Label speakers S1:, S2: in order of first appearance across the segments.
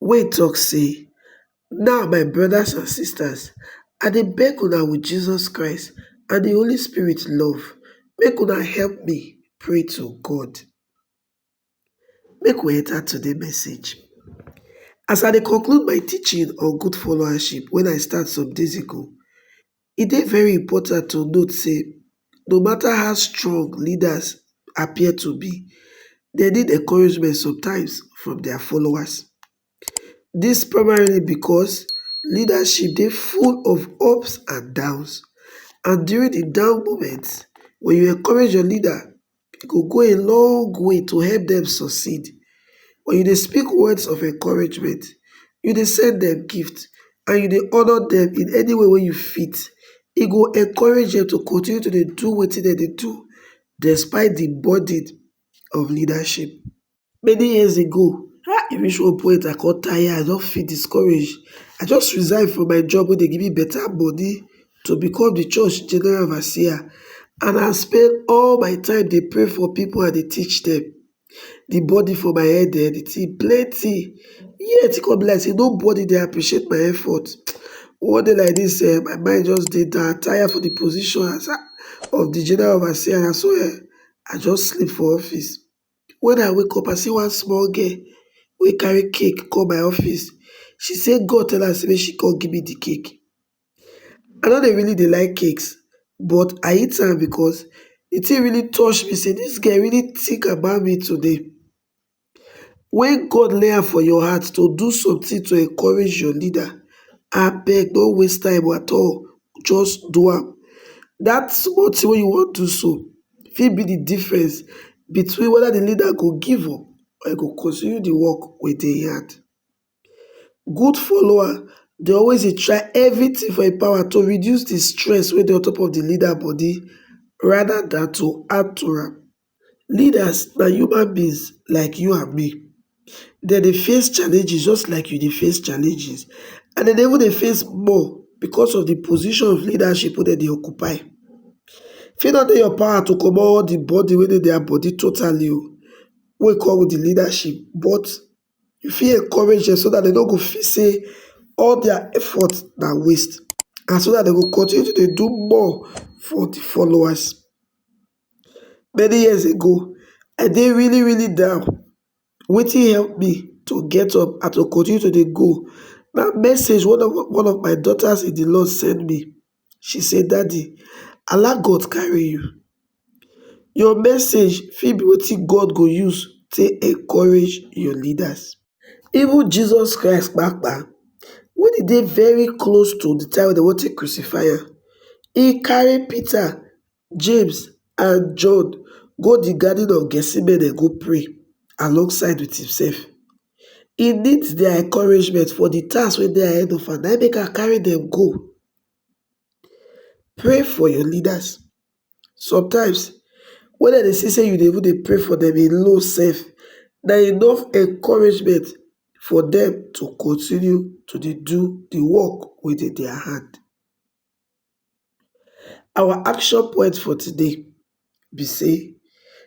S1: wey tok sey, Now my brodas and sistas, I dey beg una wit Jesus Christ and di Holy Spirit love, make una help me pray to God. Make we enta today message. As I dey conclude my teaching on good followership wen I start some days ago, E dey very important to note sey no matter how strong leaders appear to be, dem need encouragement sometimes from dia followers. Dis primarily because leadership dey full of ups and downs and during de down moment, wen you encourage your leader, e go go a long way to help dem succeed. Wen you dey speak words of encouragement, you dey send dem gift and you dey honour dem in any way wey you fit, e go encourage dem to continue to dey do wetin dem dey do despite di burden of leadership. Many years ago, e reach one point I come tire, I don feel discouraged. I just resign from my job wey dey give me better money to become the church general overseer and I spend all my time dey pray for people and dey teach them. The burden for my head eh, the thing plenty yet e come be like say nobody dey appreciate my effort. One day like this eh, my mind just dey down, I tire for the position of the general overseer, na so eh, I just sleep for office. When I wake up, I see one small girl wey carry cake come my office. She say God tell am say make she come give me the cake. I no dey really dey like cakes, but I eat am because the thing really touch me say this girl really think about me today. When God lay am for your heart to do something to encourage your leader, abeg no waste time at all. just do am. Dat small tin wey you wan do so fit be di difference between weda di leader go give up or e go continue di work wey dey im hand. Good follower dey always dey try evritin for im power to reduce di stress wey dey on top of di leader body rather dan to add to am. Leaders na human beings like you and me, dem dey face challenges just like you dey face challenges and dem dey even dey face more because of the position of leadership wey dem dey occupy. E fit no dey your power to comot all the burden wey dey their body totally o wey come with the leadership but you fit encourage dem so dat dem no go feel sey all their effort na waste and so dat dem go continue to dey do more for the followers. many years ago i dey really really down wetin help me to get up and to continue to dey go na message one of my daughters in the lord send me she say daddy ala god carry you your message fit be wetin god go use take encourage your leaders even jesus christ kpakpa when he dey very close to the time wey dem wan take crucify am he carry peter James and John go di Garden of Gethsemane go pray alongside with himself. He need their encouragement for the task wey dey ahead of am, na im make am carry them go. Pray for your leaders. Sometimes, when dem dey see say you dey even dey pray for them alone sef, na enough encouragement for them to continue to dey do the work wey dey their hand. Our action point for today be say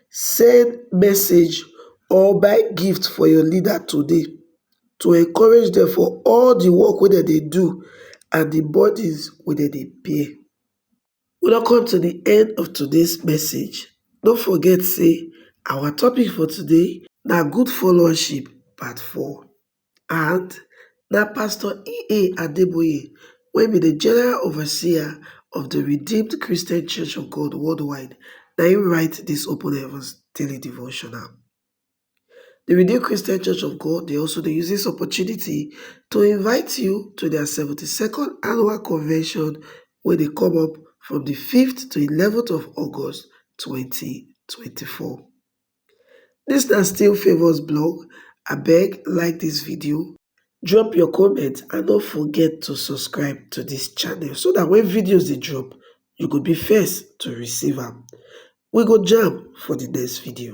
S1: send message or buy gift for your leader today to encourage dem for all the work wey dem dey do and the burdens wey dem dey bear. We don come to the end of today's message. No forget say our topic for today na good followership part four. and na pastor ea adeboye wey be di general overseer of di redeemed christian church of god worldwide na im write di open heavens daily devotional di redeemed christian church of god dey also dey use dis opportunity to invite you to dia seventy second annual convention wey dey come up from di fifth to eleventh of august twenty twenty four Dis na still Favour's blog, abeg like dis video, drop your comment and no forget to subscribe to dis channel so dat wen videos dey drop you go be first to receive am. We go jam for di next video.